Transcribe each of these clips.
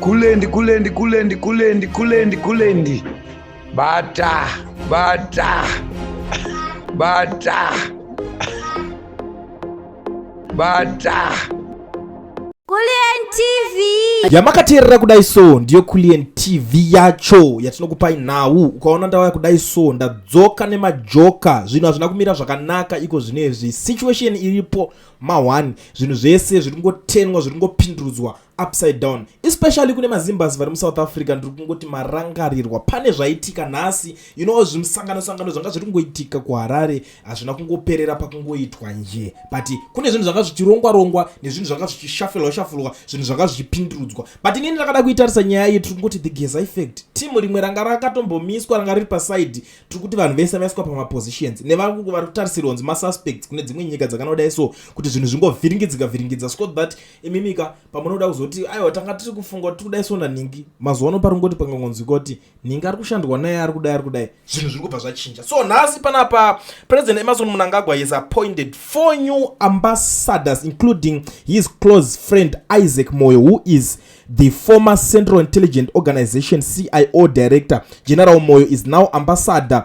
Kulendi, kulendi, kulendi, kulendi, kulendi, kulendi. Bata, bata, bata, bata. Kulien TV yamakateerera kudai so ndiyo Kulien TV yacho yatinokupai nhau. Ukaona ndauya kudai so ndadzoka nemajoka, zvinhu hazvina kumira zvakanaka iko zvino izvi. Situation iripo mahwani, zvinhu zvese zviri kungotenwa, zviri kungopindurudzwa upside down especially kune mazimbas vari musouth africa ndiri kungoti marangarirwa pane zvaitika nhasi you know zvimusangano sangano zvanga zviri kungoitika kuharare hazvina kungoperera pakungoitwa nje but kune zvinhu zvanga zvichirongwa rongwa nezvinhu zvanga zvichishafulwa shafulwa zvinhu zvanga zvichipindurudzwa but inini ndakada kuitarisa nyaya iyi tiri kungoti the geza effect team rimwe ranga rakatombomiswa ranga riri paside tiri kuti vanhu vese vaiswa pamapositions nevangu vari kutarisirwa kunzi masuspects kune dzimwe nyika dzakanodai so kuti zvinhu zvingovhiringidzika vhiringidza so that imimika pamunoda kuzoti aiwa tanga tiri kufunga kuti tikudai sona nhingi mazuva ano pari kungoti pangangonzwika kuti nhingi ari kushandwa naye ari kudai ari kudai zvinhu zviri kubva zvachinja so nhasi panapa president emerson munangagwa is appointed four new ambassadors including his close friend isaac moyo who is the former central intelligent organization cio director general moyo is now ambassador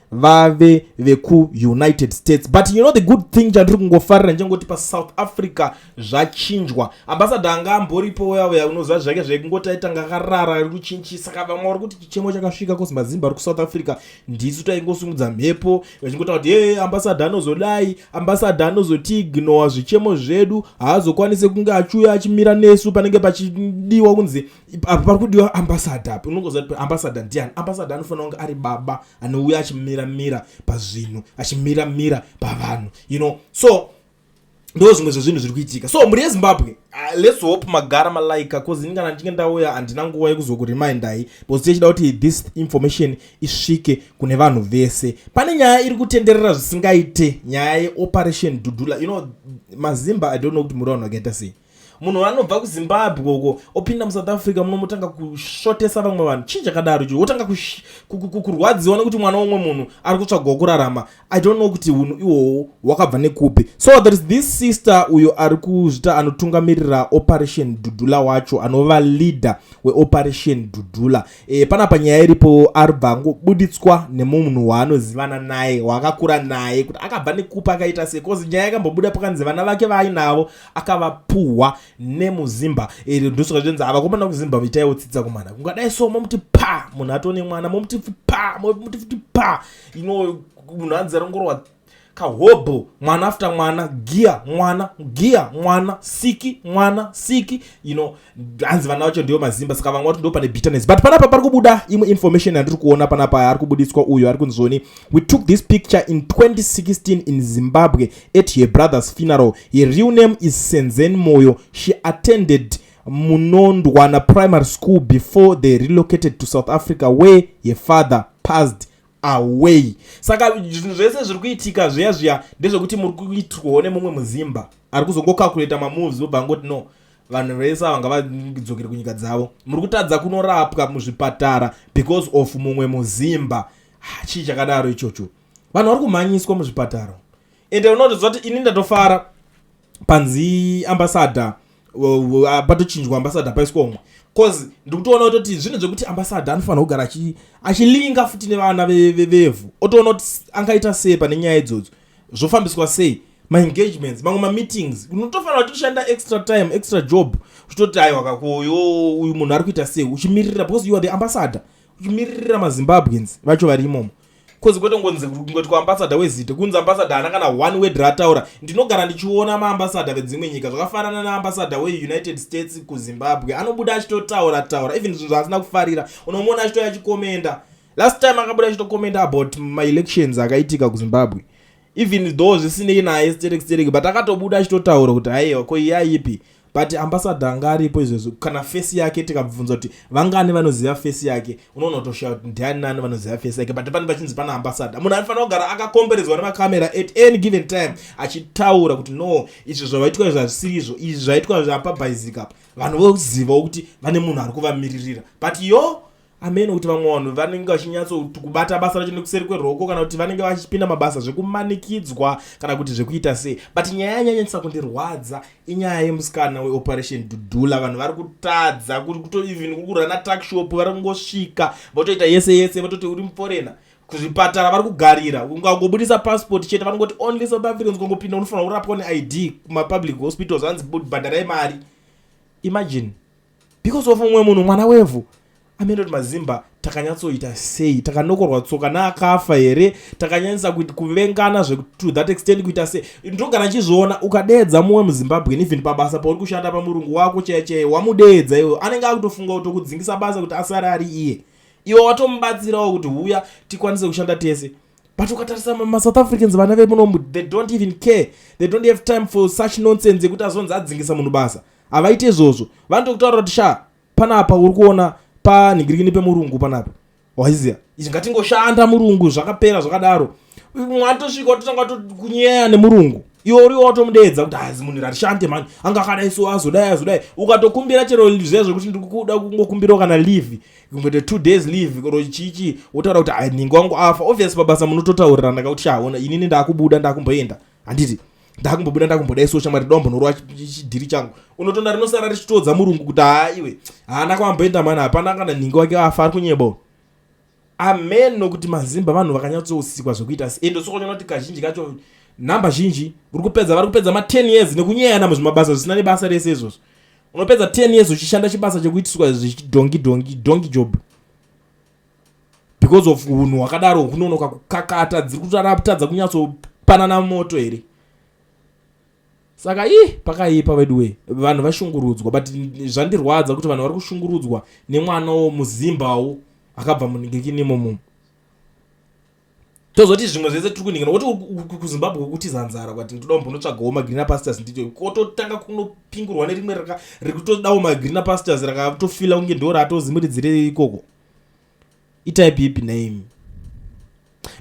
vave vekuunited states but you know the good thing chandiri kungofarira ndichangoti pasouth africa zvachinjwa ambasada anga amboripo uyauya unoziva zvake zvekungoti aitanga akarara ari kuchinjisa ka vamwe vari kuti chichemo chakasvika kosi mazimba ari kuSouth africa ndisu taingosumudza mhepo vachingotaura kuti ee ambasada anozodai ambasada anozotiignowa zvichemo zvedu haazokwanise kunge achiuya achimira nesu panenge pachidiwa kunzi apa pari kudiwa ambasada api unongoziva kuti ambasada ndiani ambasada anofanira kunge ari baba anouya achimira mira pazvinhu achimira mira pavanhu you know so ndo zvimwe zvezvinhu zviri kuitika so mhuri yezimbabwe uh, lets hope magara malaika bcause ini kana ndichinge ndauya handina nguva yekuzokuremindai bcause tichida kuti this information isvike kune vanhu vese pane nyaya iri kutenderera zvisingaite nyaya yeoperation dudula you know mazimba i don't know kuti muri vanhu vakaita sei munhu wanobva kuzimbabwe uko opinda musouth africa munomotanga kusvotesa vamwe vanhu chii chakadaro chii wotanga kurwadziwa nekuti mwana womwe munhu ari kutsvagawo kurarama i don't know kuti unhu ihwohwo hwakabva nekupi so there is this sister uyo ari kuzvita anotungamirira operation dudula wacho anova leader weoperation dudula e, panapa nyaya iripo aribva angobuditswa nemumunhu waanozivana naye waakakura naye kuti akabva nekupi akaita sei bcause nyaya yakambobuda pakanzi vana vake vaainavo akavapuhwa nemuzimba iri nduso kazvinzi ava komana kuzimba vitaiwo tsitsa kumana kungadai so momuti pa munhu atone mwana momuti pa momuti futi pa ino munhu anzi arongorwa kahobho mwana after mwana giya mwana giya mwana siki mwana siki you know hanzi vana vacho ndiyo mazimba saka vanga vati ndo pane bitterness but panapa pari kubuda imwe information yandiri kuona panapa ari kubudiswa uyo ari kunzoni we took this picture in 2016 in zimbabwe at her brother's funeral her real name is senzen moyo she attended munondwana primary school before they relocated to south africa where her father passed away saka zvinhu zvese zviri kuitika zviya zviya ndezvekuti muri kuitirwawo nemumwe muzimba ari kuzongokakureta mamoves vobva angoti no vanhu vese ava ngavadzokere kunyika dzavo muri kutadza kunorapwa muzvipatara because of mumwe muzimba ah, chii chakadaro ichocho vanhu vari kumhanyiswa muzvipatara ende unotoziva kuti ini ndatofara panzi ambasada ah, patochinjwa ambasada paiswa umwe bcause ndikutoona kutoti zvinhu zvekuti ambasada anofanira kugara achilinga futi nevana vevhu otoona kuti angaita sei pane nyaya idzodzo zvofambiswa sei maengagements mamwe mameetings unotofanira tishanda extra time extra job uchitoti aiwa kakoyo uyu munhu ari kuita sei uchimiririra because you are the ambassador uchimiririra mazimbabweans vacho vari imomo bcause kwetongonzi ngoti kuambasada wezita kunzi ambasada haana kana one word raataura ndinogara ndichiona maambasada vedzimwe nyika zvakafanana naambasada weunited states kuzimbabwe anobuda achitotaura taura even zvinhu zvaasina kufarira unomuona achitouya achikomenda last time akabuda achitocommenta about maelections akaitika kuzimbabwe even though zvisinei naye sterek sterek but akatobuda achitotaura kuti haiwa ko iye aipi but ambasada anga aripo izvezvo kana fesi yake tikabvunza kuti vangani vanoziva fesi yake unoona kutoshaya kuti ndiani nani vanoziva fesi yake but pane pachinzi pana ambasada munhu aifanira kugara akakomberedzwa nemacamera at any given time achitaura kuti no izvi zvavaitwa izvi hazvisiri izvo izvi zvaitwa zvapabhaizika apa vanhu vozivawo kuti vane munhu ari kuvamiririra but yo hameno kuti vamwe vanhu vanenge vachinyatsokubata basa racho nekuseri kweruoko kana kuti vanenge vachipinda mabasa zvekumanikidzwa kana kuti zvekuita sei but nyaya yanyanyisa kundirwadza inyaya yemusikana weoperation dudula vanhu vari kutadza kuri kuto even kuri kurana takshop vari kungosvika votoita yese yese vototi uri muforena kuzvipatara vari kugarira ungangobudisa passport chete vanongoti only south africans ukangopinda unofanira kurapwa neid kumapublic hospitals anzi bhadharai mari imagine because of umwe munhu mwana wevhu amene kuti mazimba takanyatsoita sei takanokorwa tsoka naakafa here takanyanyisa kuvengana zvekut that extent kuita sei ndogara chizviona ukadeedza mumwe muzimbabwen even pabasa pauri kushanda pamurungu wako chaiye chaiye wamudeedza iwe anenge akutofunga kuti okudzingisa basa kuti asare ari iye iwe watomubatsirawo kuti huya tikwanise kushanda tese but ukatarisa masouth africans vana vemunomu they don't even care they don't have time for such nonsense yekuti azonzi adzingisa munhu basa havaite izvozvo vanoto kutaura kuti sha panapa uri kuona panhingirikini pemurungu panapa waiziva izvi ngatingoshanda murungu zvakapera zvakadaro mwatosvika watotanga tokunyeya nemurungu iwe uriwo watomudeedza kuti hazi munhu ratishande mani anga akadai so azodai azodai ukatokumbira chero zviya zvekuti ndikuda kungokumbirawo kana leave kungoita two days leave koro chichi wotaura kuti nhingi wangu afa obvious pabasa munototaurirana ka kuti shaona inini ndakubuda ndakumboenda handiti ndakumbobuda ndakumboda iso shamwari dombo norova chidhiri changu unotonda rinosara richitoodza murungu kuti haa iwe haana kwamboenda mani hapana kana nhingi wake afa ari kunyebao amen nokuti mazimba vanhu vakanyatsousikwa zvekuita si ende sokonyoona kuti kazhinji kacho nhamba zhinji uri kupedza vari kupedza ma10 years nekunyeyana muzvimabasa zvisina nebasa rese izvozvo unopedza 10 years uchishanda chibasa chekuitiswa zvichidhongi dhongi dhongi job because of hunhu hwakadaro hunonoka kukakata dziri kutaraptadza kunyatsopanana moto here saka ii pakaipa veduwe vanhu vashungurudzwa but zvandirwadza kuti vanhu vari kushungurudzwa nemwana wo muzimbawo akabva muningikini imomomo tozoti zvimwe zvese tiri kuningana woti kuzimbabwe kutiza nzara kwati toda kumbonotsvagawo magreener pastors ndicho kototanga kunopingurwa nerimwe raka riri kutodawo magreener pastors rakatofila kunge ndo ratozimuridzire ikoko itai bipi name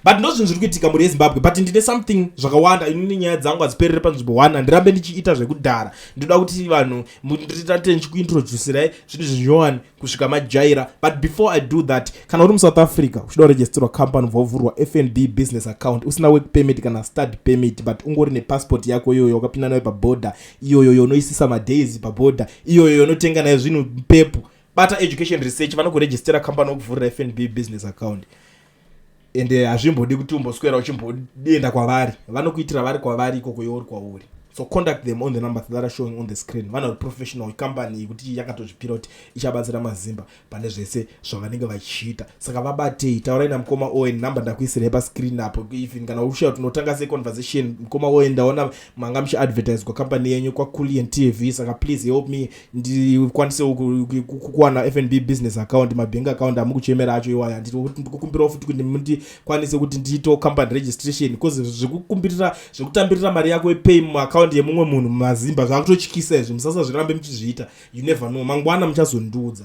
but ndo zvinhu zviri kuitika mhuri yezimbabwe but ndine something zvakawanda inini nyaya dzangu hadziperere panzvimbo one handirambe ndichiita zvekudhara ndoda kuti vanhu nditate ndichikuintroducirai zvinhu zvinyowani kusvika majaira but before i do that kana uri musouth africa uchida kuregisterwa company ubva wavhurwa fnb business account usina work permit kana study permit but ungori nepassport yako iyoyo wakapinda nayo paboda iyoyo yonoisisa madays paboda iyoyo yonotenga nayo zvinhu pepu bata education research vanokuregistera company wokuvhurira fnb business account ende hazvimbodi kuti umboswera uchimboenda kwavari vanokuitira vari kwavari ikoko iwe uri kwauri so contact them on the number that are showing on the screen vana uri professional company yekuti yakatozvipira kuti ichabatsira mazimba pane zvese zvavanenge vachiita saka vabatei taurai namukoma owen number ndakuisirai pascreen apo even kana ushaya kuti unotanga se conversation mukoma owen ndaona manga muchiadvertiswa company yenyu kwaculian tv saka please help me ndikwanisewo kuwana fnb business account mabank account amukuchemera acho iwaya ndikukumbirawo futi kuti ndikwanise kuti ndiitewo company registration because zvekukumbirira zvekutambirira mari yako epay muaccount yemumwe munhu mumazimba zvakutotyisa izvi musasazvirambe muchizviita you never know mangwana muchazondiudza